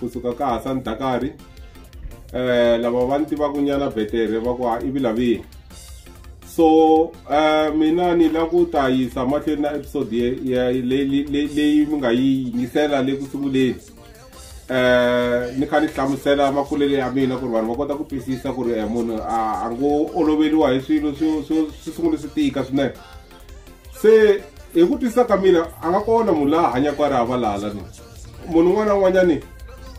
kusuka ka Hasan Dakari eh lava va ni tivaka nyana betere va ku ha ivi lavihi so eh mina ni la ku ta yisa mahlweni na episode leyi mi nga yi yingisela le ku sunguleni eh ni kha ni hlamusela makulele ya mina ku ri vanhu va kota ku twisisa ku ri eh, munhu a ngo oloveriwa hi swilo swi sungule swi tika swinene se hi ku twisisa ka mina a nga kona munhu laha hanyaka a ri havalala ni munhu un'wana na un'wanyani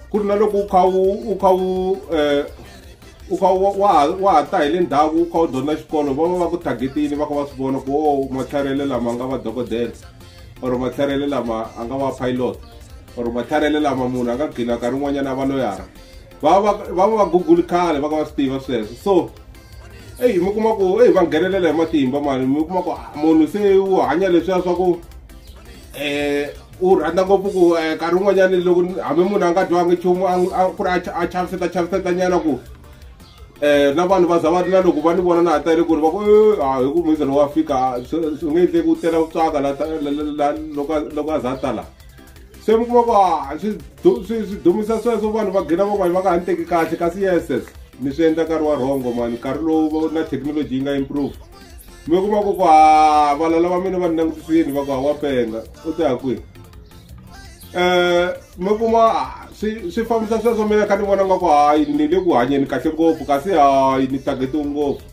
ku ri na loko u kha u u kha u um u kha wa ha ta hi le ndhaku u kha u dyondza xikolo va va va ku targetini va kha va swi vona ku o oh, matlharele lama nga va dokodela or matlharele lama a nga va pilot or matlharele lama munhu a nga gcina nkarhi un'wanyana a va loyara va va va va google khale va ka va swi tiva sweswo so eyi mi kuma ku eyi va nghenelela hi matimba mani mi kuma ku ah, munhu se u hanya leswiya swa ku um u rhandza ngopfu ku eh, nkarhi wun'wanyani loko hambi munhu a nga dyiwangi nchumu ku ri a chaviseta chaviseta nyana ku um na vanhu va za va ri na loko va ni vona na ha tele ku ri va ku eh, a ah, hi ku muise lowu wa fika swi nge endleki u tela ku tswaka loko a za a tala se mi kuma ku a ah, swi dumisa sweswo vanhu va gina van'wani va nga ha ni teki kahle kasi yeses mi swi endla nkarhi wa rhongo mani nkarhi lowu na thekinoloji yi nga improve mi kuma ku ku ha ah, valala va mina va ni langutisini va ku ha wa penga u te ha kwihi um mi kuma ah, swi swi fambisa sweswo mina kha ni vona nga ku hayi ni le ku hanyeni kahle ngopfu kasi hayi ni tagetiwe ngopfu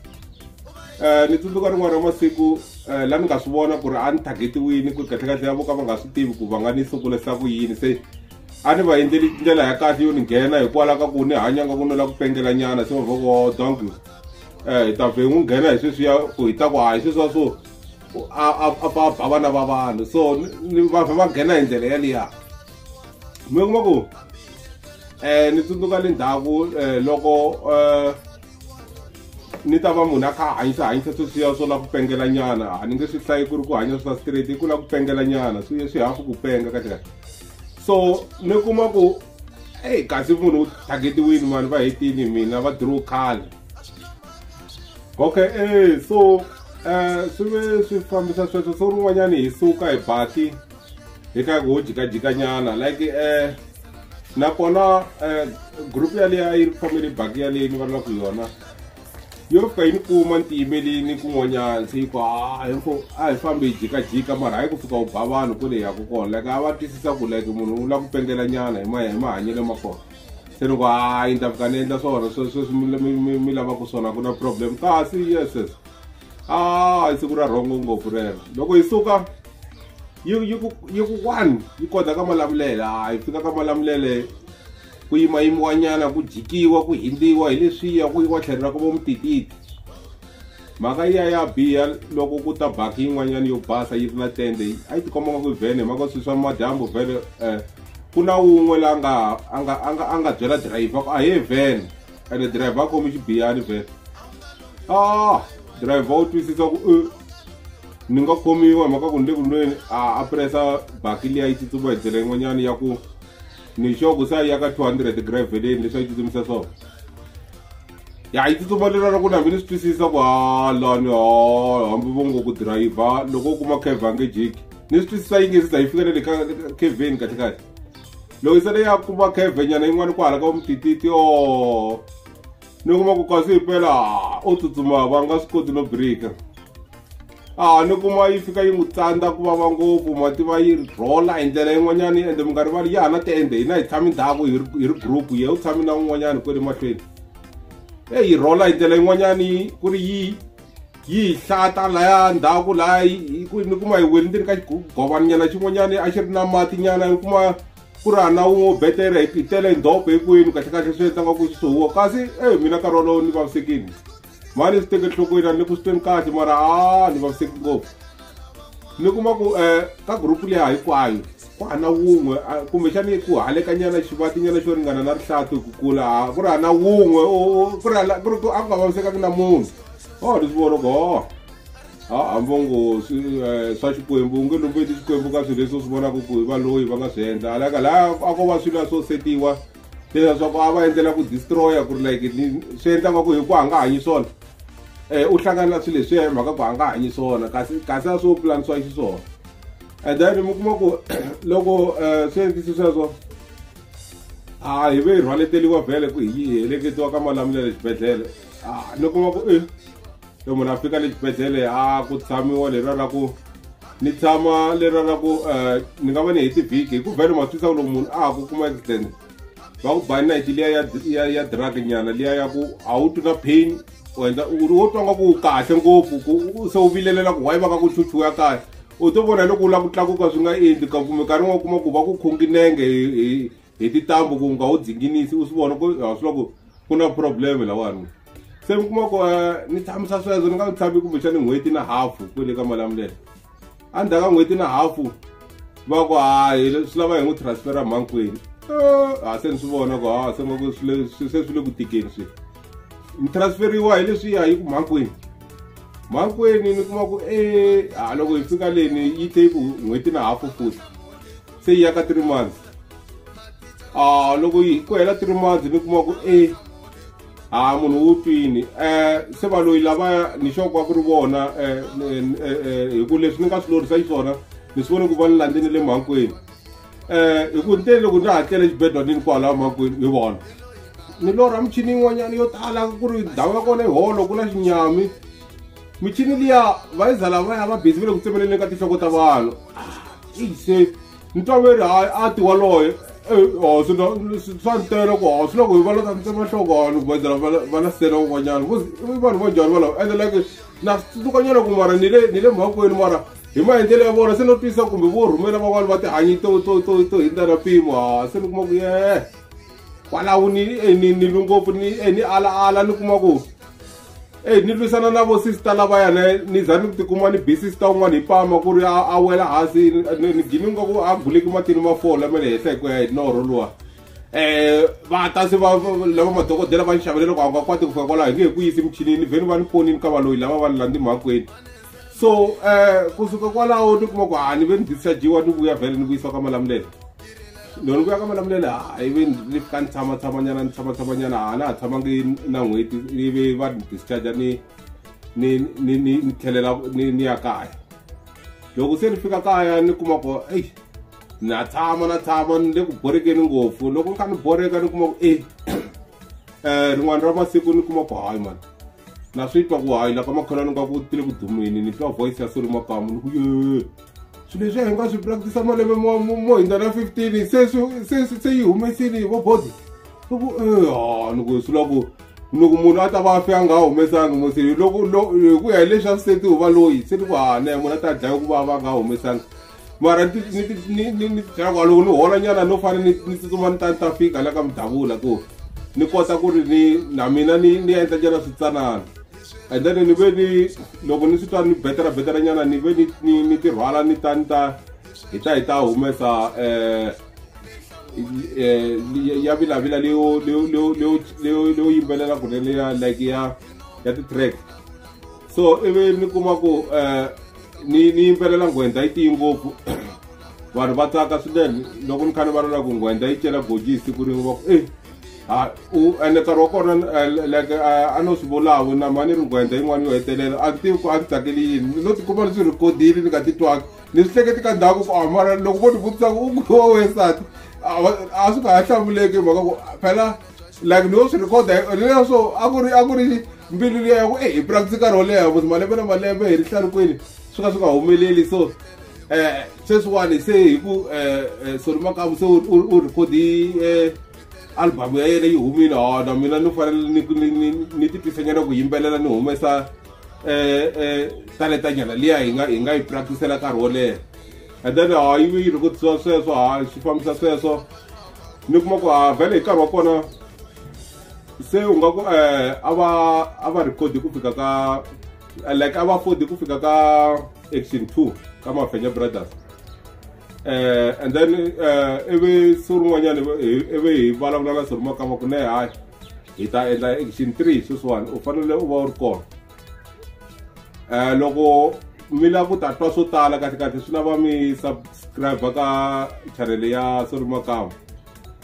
um ni tsundzuka rin'wana ra masiku um eh, laha ni nga swi vona ku ri a ni targetiwini ku kahlekahle ya voka va nga swi tivi ku va nga ni sukulisa ku yini se a ni va endleli ndlela ya kahle yo ni nghena hikwalaho ka ku ni hanya nga ku ni la ku pengela nyana se vavoko donk um eh, hi ta vhe n'wi nghena hi sweswiya ku hi ta ku a hi sweswiya swo a ba vana va vanhu so ni va vhe va nghena hi ndlela yaliya mi kuma ku um ni tsundzuka le ndzhaku um loko um ni ta va munhu a kha a hanyisa hanyisa sweswiya swo la ku pengela nyana a ni nge swi hlayi ku ri ku hanya swa straight i ku la ku pengela nyana swi swi hafu ku penga kahle kahle so ni kuma ku eyi kasi munhu u targetiwini mani va hetini mina va draw khale okay e so um swi ve swi fambisa sweswo so rin'wanyani hi suka hi baki hi ka ku jikajikanyana like eh nakona eh group ya leyi a yi ri family bak ya leyi ni vulavulaka yona yo fika yi ni kuma ni tiyimelini kun'wanyana se yi ku a hi fo a hi fambi hi jikajika mara hayi ku fika u ba vanhu ku leyi yaku kona like a va twisisa ku like munhu u lava ku pengela nyana hi ma hi mahanyelo ma kona se ni ku hayi ni ta fika ni endla swona sweswi mi lavaku swona ku na problem kasi yeses a ah, hi siku ra rhongo ngopfu rero loko hi suka yi ku one yi kota ka malamulele a ah, hi fika ka malamulele ku yimayimiwanyana ku jikiwa ku hindiwa hi leswiya ku yiwa tlhelo ra ku vo mutititi mhaka ya ya biha loko ku ta baki yin'wanyana yo basa yi ri na tende a yi tikomba nga ku vhene hi maka swi swa madyambu vhele um eh, ku na wun'we la nga a nga a nga a nga byela dirayivha ku a he vhene ene driver a khomi xibiyani vhele a ah, driver u twisisa ku eh, ni nga khomiwa hi mhaka ku ni le ku lweni a presa baki liya yi tsutsuma hi ndlela yin'wanyana ya ku ni xoku se a ya ka 200 graveleni leswi a yi tsutsumisa swona ya yi tsutsuma lera ra ku na mi ni swi twisisa ku halani ha hambi vo ngo ku dirayivha loko u kuma kevha nge jiki ni swi twisisa yi nge se za yi fika na le ka kevheni kahle kahle loko se leyi ya kuma khevenyana yin'wana ku hala ka vumtititi o ni kuma ku kasi himpela o tsutsuma va nga swi koti no birika a ni kuma yi fika yi n'wi tsandza ku vava ngopfu mati va yi rhola hi ndlela yin'wanyana yi ende minkarhi vali ya ha na tiende hina hi tshami ndhaku hi ri group ye u tshami na un'wanyana kwele mahlweni e yi rhola hi ndlela yin'wanyani ku ri yi yi hi hlata laya ndhaku laya ni kuma hi weli ndzeni ka xigovanyana xin'wanyana a xi ri na mati nyana ni kuma ku ri hana wun'we u betela hi tele hi ndhopo hinkwenu kahlekahle swi endlaka ku swi sohiwa kasi e mina nkarhi wolowo ni vavisekini mani swi teke nhlokweni a ni ku swi tweni kahle mara a ni vaviseki ngopfu ni kuma ku um ka gurupu leya hinkwayo ku hana wun'we kumbexani ku halekanyana xivatinyana xo ringana na rihlati ku kula ku ri hana wun'we ku ri a ku nga vavisekaki na munhu oh ndzi vona ku oh ha hambo ngo eh, swa xikwembu u nge lombeti xikwembu ka swilo leswi u swi vonaka ku hi valoyi va nga swi endla alaka laha a ko va swilo swo setiwa leswa swa ku a va endlela ku destroya ku ri like swi endla nga ku hi ku a nga hanyi swona um u hlangana na swilo leswiya hi mhaka ku a nga hanyi swona kasi kasi a swo pulanisiwa xiswona and then mi kuma ku loko um swi endlisi sweswo a hi ve hi rhwaleteliwa vhele ku hi heleketiwa ka malamulelo exibedhlele ah, loko va ku e e munhu a fika le xibedhlele a ah, ku tshamiwa leriya ra ku ni tshama leriya ra ku eh, ni nga va ni heti vhiki hi ku vhele ma twisa ku loko munhu a ha ku kuma accident va ku bani nayiti liya ya ya drug nyana liya ya ku a wu twi na pain u endla u ri wo twa nga ku kahle ngopfu ku se u vilelela ku wayi va ka ku chuchuya kahle u to vona loko u lava ku tlakuka swi nga endli ka kumbe nkarhi n'wana kuma ku va ku khonginenge hi hi titambu ku nga wu dzinginisi u swi vona ku ha swi loko ku na problem lawani se mi kuma ku eh, ni tshamisa sweswo ni nga tshami kumbexani n'hweti na hafu ku le ka mali ya milele endzhaku ka n'hweti na hafu va ku hayi swi lava hi n'wi transfera mhankwini eh, ha se ni swi vona ku ha se ngaku se swi le ku tikeni swi ni transferiwa hi leswi ya yi ku mhankwini mhankwini ni kuma ku e ha loko hi fika leni yi te yi ku n'hweti na hafu futhi se yi ya ka three months a loko yi ku hela three months ni kuma ku e a munhu wu twini um se va loyi lavaya ni xoko wa ku ri vona um hi ku leswi ni nga swi lorisa xiswona ni swi vone ku va ni landze ni le mhankwini um hi ku nteni loko ni ha tlele xibedwanini kwalaho mhankwini hi vona ni lorha michini yin'wanyana yo tala ku ri ndhawu ya kona yi holo ku na xinyami michini liya va yi za lavaya va bizi va le ku tsemeleleni ka tinhloko ta vanhu se ntoveri hayi a ti waloye hosi swa ntela ku hosi loko hi va lata ntsema nhloko vanhu ku vandzela va na sele van'wanyana vanhu vo njhani valava ende like na tlukanyana ku mara ni le ni le mhakweni mara hi maendlelo ya vona se no twisa kumbe vo rhumela van'wana va tihanyi to to to to hindza na mpimo ha se ni kuma ku ye kwalaho ni ni ni ngopfu ni ni ala ala ni kuma ku eyi ni lwisana na vosista lavaya ne ni za ni ku tikuma ni bi sista un'wana hi pama ku ri a wela hansi ni gini nga ku a guleki matini ma fola ma le henhla hi ku ya hi norho luwa um va ta se va lava madokodela va ni xavele loko a nga kwati ku fika kwalaho hi nge hi ku yisi michinini vheni va ni ponini ka valoyi lava va ni landzi mhakweni so um eh, kusuka kwalaho ni kuma ku ha ni ve ni dischargiwa ni vuya vhele ni vuyisiwa ka malamulelo loko ni vuya ka malamulelo hayi ve ni fika ni tshama tshamanyana ni tshama tshamanyana ha na ha tshamangi na n'hweti ni ve va ni discharge ni ni ni ni ni tlhelela ni ni ya kaya loko se ni fika kaya ni kuma ku eyi na tshama na tshama ni le ku borekeni ngopfu loko ni kha ni boreka ni kuma ku eyi um rin'wana ra masiku ni kuma ku hayi mani na swi twa ku hayi la ka makholwani nga ku tile ku dumini ni twa voice ya suri makamu ni ku ye swilo leswi a hi nga swi practisa malembe mo hindza na fifteen se se yi humesini vo bozi ni ku e ha ni ku swi la ku loko munhu a ta va fe a nga humesangi mo se loko hi ku ya hi leswi a swi setiwa va loyi se ni ku ha na munhu a ta dlaya ku va va nga humesangi mara ni ti- ni ti- ni- ni- ni byela ku loko ni hola nyana no fane ni ni tsutsuma ni ta ni ta fika la ka mudavula ku ni kota ku ri ni na mina ni ni endla nyana switsanana and then ni ve ni loko ni swi twa ni betela betela nyana ni ve ni- ni ni ti rhwala ni ta ni ta hi ta hi ta humesa um eh, li- ya vilavila leyo leyo- leyo- leyo- leyo leyo yimbelela kunene ya like ya ya ti-track so ivi mi kuma ku um ni ni yimbelela nghwenda yi tiyi ngopfu vanhu va tsaka swinene loko ni kha ni valala ku nghwenda yi cela goji hi siku rin'we va ku e ha u ene nkarhi wa kona eh, like eh, a no swi vulavu na mani ri nghwenda yin'wana yo hetelela a ni tivi ku a ni tsakeli yini no tikuma ni swi rhikodile ni nga titwanga ni swi hleketi ka ndhaku ku amara ah, loko vo ni vutisa ku u kuwa wesati a swi nga ha hlamuleki hi mhaka ku phela like ni yo swi recorda leswo a ku ri a ku ri mbilu liya ya ku e hi practice nkarhi wo leha vut malembe na malembe hi ri hlarukweni swi ka swi nga humeleli so um eh, sweswiwani se hi ku um eh, eh, solimakamu se u recordi um album ya yena yi humile hona mina ni fanele ni titwisanyana ku yimbelela ni humesa um um taletanyana liya hi nga hi nga yi practicela nkarhi wo leha and then ha yi yi rhukutisiwa sweswo ha swi fambisa sweswo ni kuma ku ha vhele hi nkarhi wa kona se u nga ku eh a va a va record ku fika ka like a va afford ku fika ka action 2 ka mafenya brothers eh and then eh ivi siku rin'wanyana ivi hi vulavula na soruma kama ku ne hayi hi ta endla action 3 sweswiwani u fanele u va u ri kona um loko mi lava ku ta twa swo tala kahle kahle swi lava mi subscribe ka chanele ya sori makama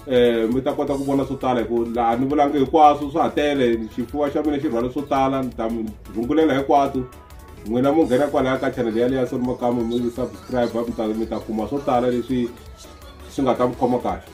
um mi ta kota ku vona swo tala hi ku laha ni vulangi hinkwaswo swa ha tele xifuva xa mina xi rhwala swo tala ni ta mi rhungulela hikwaswo n'wina mu nghena kwalaya ka chanele yaleyo ya sori makama mi subscribe mi ta mi ta kuma swo tala leswi swi nga ta mi khoma kahle